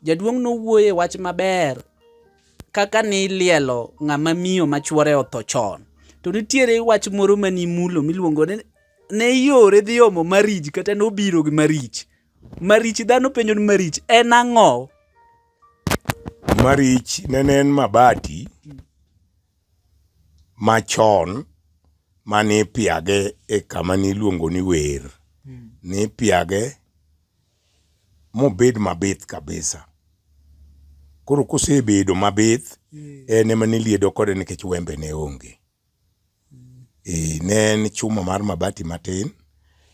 Jaduong' nowuoye wach maber kaka ni lielo ng'ama miyo ma chwore otho chon. To nitiere wach moro ma nimulo miluongo ni ne yore dhi omo marich kata nobiro gi marich. Marich dhano penjo ni marich en ang'o? Marich nene en mabati machon mane ipiage e kama niluongo ni wer. Nipiage. mobed mabith kabisa. Koro kosebedo mabith, mm. en ema niliedo kode nikech wembe ne onge. Mm. E, ne en chuma mar mabati matin,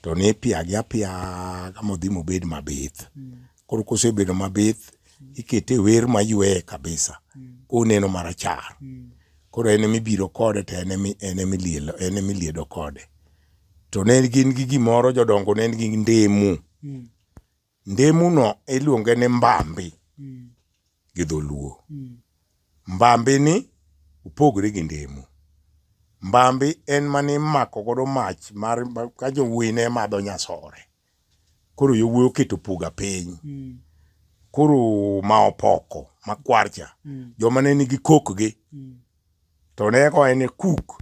to ne ipiage apiaga modhi mobed mabith. Mm. Koro kosebedo mabith, ikete wer mayweye kabisa, mm. koneno marachar. Mm. Koro en emibiro kode to en emiliedo kode. to ne gin gi gimoro jodongo ne gi ndemu mm. ndemu no iluonge ni mbambi mm. gi dholuo mm. mbambi ni opogore gi ndemu mbambi en mane imako godo mach mar ka jowuoyi ne madho nyasore koro yowuoyi oketo puga piny mm. koro ma opoko makwarcha mm. joma ne nigi kokgi mm. to ne koe ne kuk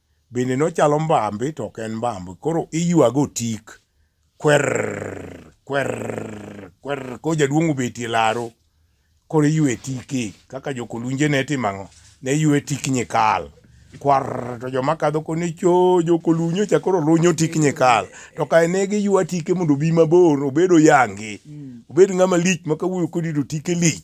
bende nochalo mbambi to ok en mbambi koro iywago tik kwer kwer kwer ko jaduong' obetie laro koro iywe tiki kaka jokolunje ne timo ang'o ne ywe tik nyikal kwar to joma kadho koni cho jokolunyo cha koro lunyo tik nyikal to kae ne giywa tike mondo obi mabor obedo yangi obed ng'ama lich ma kawuoyo kodi to tike lich